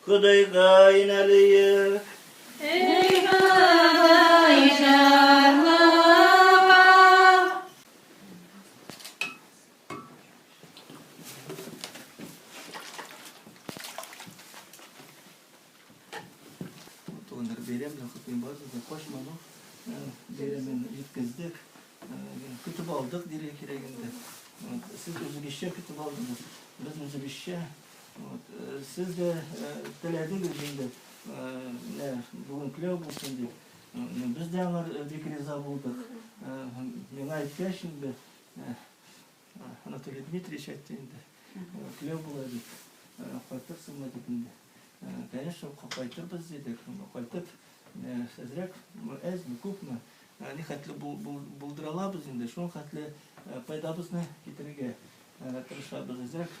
Ходайга инәлиек. Эй Ходай җарлыга. Туганнар, бәйрәм дә хөкем бар, без дә качмадык. Бәйрәмен җиткездек, көтеп алдык, диргә кирәк инде. Сез үзегезчә көтеп алдыгыз, без үзебезчә. Вот, э, сез дә э, теләдегез инде, менә бүген көләү булсын дип. Без дә аңар бик риза булдык. Миңа әйткәч инде, Анатолий Дмитриевич әйтте инде, көләү була дип, кайтырсыңмы дип инде. Конечно, кайтырбыз дидек, кайтып, әзрәк, әзме, күпме, ни хәтле булдыра алабыз инде, шул хәтле пайдабызны китерергә тырышабыз, әзрәк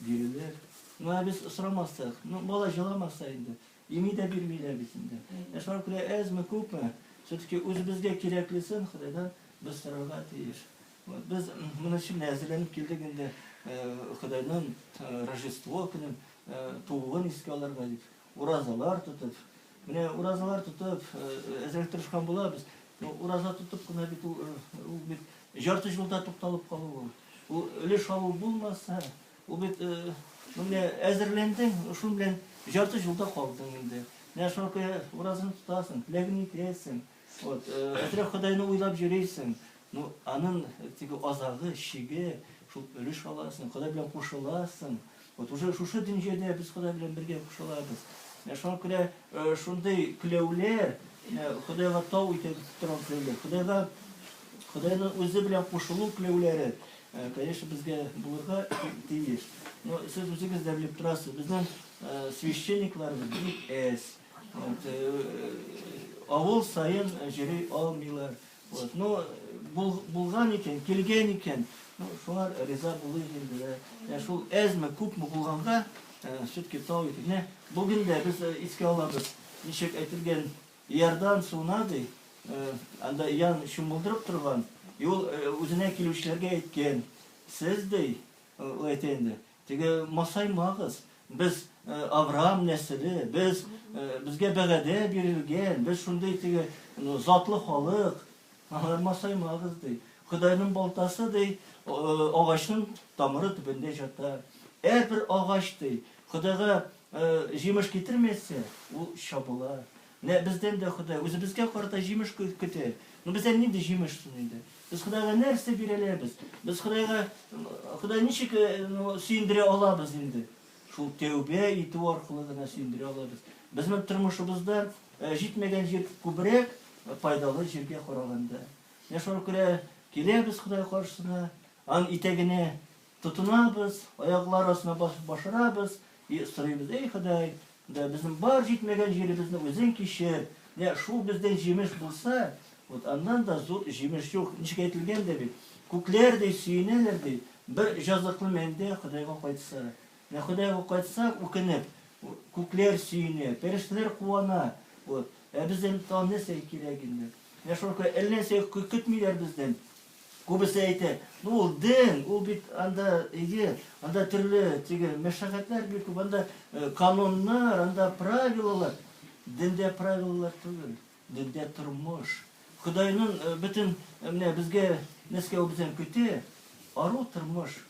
Бирелер. Ну, ә без сорамастык. Ну, бала җыламаса инде. Ими дә бирмиләр бит инде. Ә шуңа күрә әзме, күпме, все-таки үзебезгә кирәклесен Ходайдан без сорарга тиеш. Вот, без моның өчен менә әзерләнеп килдек инде, Ходайның Рождество көнен, тууын искә алырга дип. Уразалар тотып, менә уразалар тотып, әзрәк тырышкан булабыз. Ураза тотып кына бит ул бит ярты юлда тукталып калу ул. Ул өлеш алу булмаса, ул бит менә әзерләндең, шул белән ярты юлда калдың инде. Менә шуңа күрә уразаны тотасың, теләгеңне әйтәсең. Вот, хәзрәт Ходайны уйлап йөрисең, ну, аның теге азагы, чиге, шул өлеш аласың, Ходай белән кушыласың. Вот уже шушы дөньяда без Ходай белән бергә кушылабыз. Менә шуңа күрә шундый кләүләр, Ходайга тау итеп торган кләүләр, Ходайга Ходайның үзе белән кушылу кләүләре, конечно, безгә булырга тиеш. Но сез үзегез дә белеп торасыз, безнең священникларыбыз бик әз. Авыл саен җыри алмыйлар. Вот, ну, бул, булган икән, килгән икән, ну, шуңар риза булыйк инде дә. Ә шул әзме, күпме булганга, все-таки тау итик. Менә бүген дә без искә алабыз, ничек әйтелгән, Иордан суына ди, анда ян чумылдырып торган, и ул үзенә килүчеләргә әйткән, сез ди, ул әйтә инде, Теге масаймагыз, без Авраам нәселе, без, безгә бәгадә бирелгән, без шундый теге затлы халык, алар масаймагыз, ди. Ходайның балтасы, ди, агачның тамыры төбендә җата. Әрбер агач, ди, Ходайга җимеш китермәсә, ул чабыла. Менә бездән дә Ходай үзебезгә карата җимеш көтә. Ну бездән нинди җимеш соң инде? Без Ходайга нәрсә бирә алабыз? Без Ходайга Ходай ничек сөендерә алабыз инде? Шул тәүбә итү аркылы гына сөендерә алабыз. Безнең тормышыбызда җитмәгән җир күбрәк пайдалы җиргә караганда. Менә шуңа күрә киләбез Ходай каршысына, аның итәгенә Тотынабыз, аяклар астына басып башырабыз и сорыйбыз, Эй, Ходай, менә безнең бар җитмәгән җиребезне Үзең кичер, менә шул бездән җимеш булса, вот аннан да зур җимеш юк. Ничек әйтелгән дә бит, Күкләр, ди, сөенәләр, ди, бер җазыклы мәндә Ходайга кайтса. Менә Ходайга кайтса, үкенеп, күкләр сөенә, пәрештәләр куана, вот. Ә бездән тагын нәрсә кирәк инде? Менә шуңа күрә әллә нәрсә көтмиләр бездән. Күбесе әйтә, ну ул дин, ул бит анда иге, анда төрле теге мәшәкатьләр бик күп, анда кануннар, анда правилалар. Диндә правилалар түгел, диндә тормыш. Ходайның бөтен менә безгә нәрсә ул бездән көтә? Ару тормыш.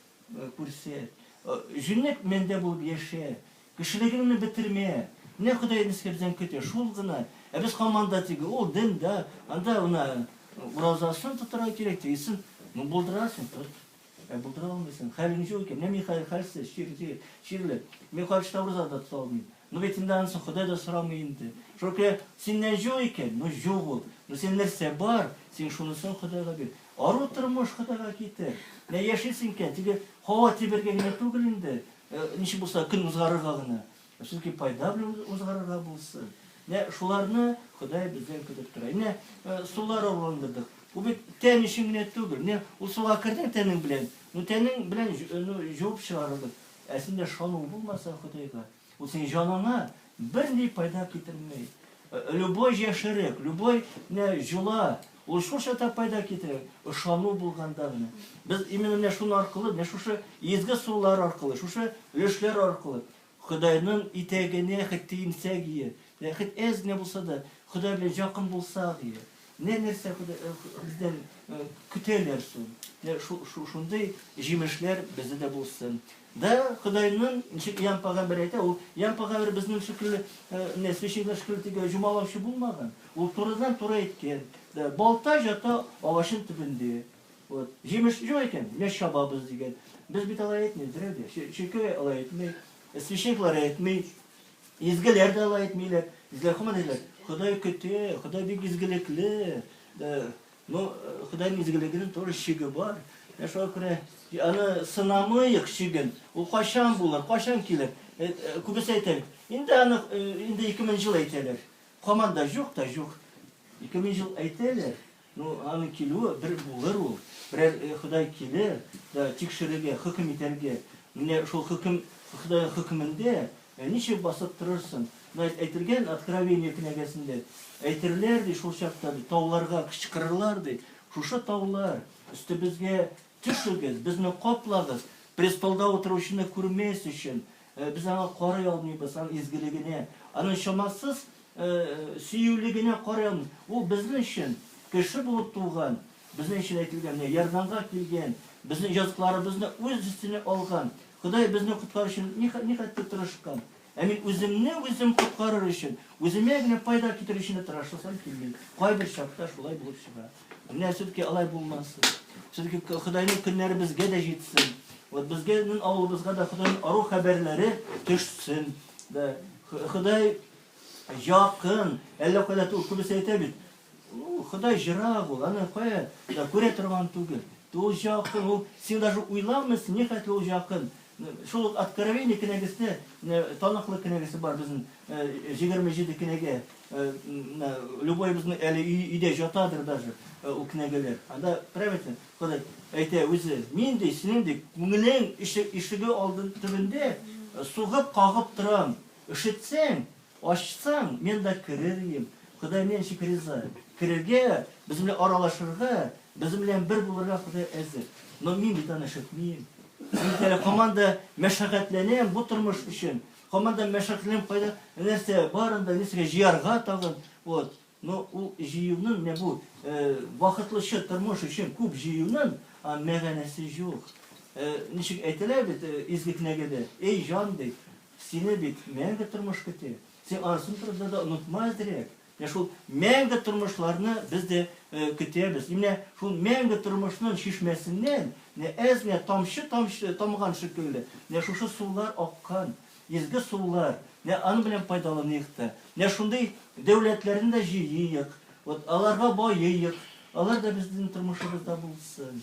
Күрсәт. Җүнләп мәндә булып яшә. Кешелегеңне бетермә. Менә Ходай безгә бездән көтә, шул гына. Ә без команда тиги, ул дин да, анда менә уразасын тотырга кирәк, тегесен. Ну, булдырасың, тот. Ә булдыра алмыйсың, хәлең җүк икән. Менә мин хәзер хәлсез, чир, чирле. Мин каршыда ураза да тота алмыйм. Ну бит инде анысын Ходай да сорамый инде. Шулкея, синнән җук икән, ну җук ул. Ну син нәрсә бар, син шунысын Ходайга бир. Ару тормыш Ходайга китер. Менә яшисең икән, теге һава тибәргә генә түгел инде. Ничек булса көн узгарырга гына. Сүзки пайда белән узгарырга булсын. Менә шуларны Ходай бездән көтеп тора. Менә сулар авылындырдык. Бу бит тән өчен генә түгел. Менә ул суга кердең тәнең белән. Ну тәнең белән ну җуып чыгарылды. Ә синдә шану булмаса Ходайга, ул синең җаныңа берни пайда китерми. Любой җәшерек, любой менә җола, ул шул чакта пайда китерә, ышану булганда гына. Без именно менә шуның аркылы, менә шушы изге сулар аркылы, шушы өлешләр аркылы Ходайның итәгенә хет тиенсәк ие, менә хет әз генә булса да Ходай белән якын булсак ие. Менә нәрсә бездән көтәләр соң. Менә шундый җимешләр бездә дә булсын. Да Худайның, ничек Иоанн пәгамбәр әйтә, ул Иоанн пәгамбәр безнең шикелле, менә священник шикелле тиге җомалаучы булмаган. Ул турыдан-туры әйткән. Да балта җата агачын төбендә. Вот. Җимеш юк икән, менә чабабыз дигән. Без бит алай әйтмибез, берәү дә. Чиркәү алай әйтми, священниклар әйтми. Изгеләр дә алай әйтмиләр. Изгеләр хаман әйтәләр, Ходай көтә, Ходай бик изгелекле. Ну, Худайның изгелегенең тоже чиге бар. Ә шуңа күрә аны сынамыйк чиген. Ул кайчан булыр, кайчан килер? Күбесе әйтәләр. Инде аны инде 2000 ел әйтәләр. Хаман да юк та юк. 2000 ел әйтәләр. Ну, аны килүе бер булыр ул, берәр Ходай килер дә тикшерергә, хөкем итәргә. Менә шул хөкем, Ходайның хөкемендә ничек басып торырсың? Менә әйтелгән Откровение кенәгәсендә, әйтерләр, ди, шул чакта, ди, тауларга кычкырырлар, ди, шушы таулар, өстебезгә төшегез, безне каплагыз, престолда утыручыны күрмәс өчен, без аңа карый алмыйбыз, аның изгелегенә, аның чамасыз сөюле генә карамый, ул безнең өчен кеше булып туган, безнең өчен әйтелгән, менә ярдәмгә килгән, безнең языкларыбызны үз өстенә алган, Ходай безне коткарыр өчен нихәтле тырышкан. Ә мин үземне үзем коткарыр өчен, үземә генә файда китерер өчен дә тырышасым килми. Кайбер чакта шулай булып чыга. Менә все-таки алай булмасын. Все-таки Ходайның көннәре безгә дә җитсен. Вот безгә, авылыбызга да Ходайның ару хәбәрләре төшсен. Да. Ходай Якын, әллә кайда түгел, күбесе әйтә бит. Ходай җырак ул, аны кая да күрә торган түгел. Ул якын, ул син даже уйламыйсың, ни хәтле ул якын. Шул ук Откровение кенәгәсендә таныклы кенәгәсе бар безнең 27 кенәгә. Любой безнең әле өйдә җатадыр даже ул кенәгәләр. Анда правильно Ходай әйтә үзе, мин ди, синең ди күңелең ишеге алдын төбендә сугып, кагып торам. Өшетсәң, ачсаң, мен да керер идем. Ходай мине ничек риза? Керергә, безнең белән аралашырга, безнең белән бер булырга Ходай әзер. Но мин бит аны өшетмим. Мин бит әле һаман да мәшәкатьләнәм бу тормыш өчен. Һаман да мәшәкатьләнәм, кайда нәрсә бар анда, нәрсәгә җыярга тагын. Вот. Но ул җыюның, менә бу бахытлычы тормыш өчен күп җыюның мәгънәсе юк. Ничек әйтәләр бит Изге кенәгәдә, Эй, җан, ди, Сине бит мәңге тормыш көти. Син анысын турыда да онытма әзрәк. Менә шул мәңге тормышларны без дә көтәбез. И менә шул мәңге тормышның чишмәсеннән менә әз генә тамчы тамчы тамган шикелле, менә шушы сулар аккан, изге сулар. Менә аның белән файдаланыйк та. Менә шундый дәүләтләрне дә җыйыйк, вот аларга баеыйк, алар да безнең тормышыбызда булсын.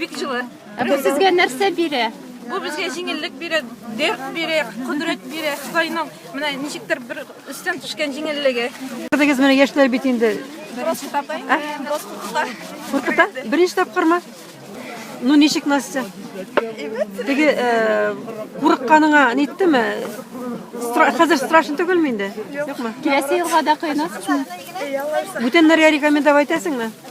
Бик җылы. Ә бу сезгә нәрсә бирә? Бу безгә җиңеллек бирә, дәрт бирә, кодрәт бирә. Худайның менә ничектер бер өстән төшкән җиңеллеге. Күрдегез менә яшьләр бит инде. Просто тапай. Просто тапай. Куркыта? Беренче тапкырмы? Ну ничек Настя? Теге э, курыкканыңа ниттеме? Стра хәзер страшно түгелме инде? Юкмы? Киләсе елга да кыйнасызмы? Бүтәннәргә рекомендовать итәсеңме?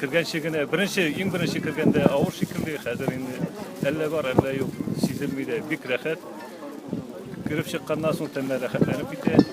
Кергәнче генә, беренче, иң беренче кергәндә авыр шикелле, хәзер инде әллә бар, әллә юк, сизелми дә, бик рәхәт. Кереп чыкканнан соң тәннәр рәхәтләнеп китә.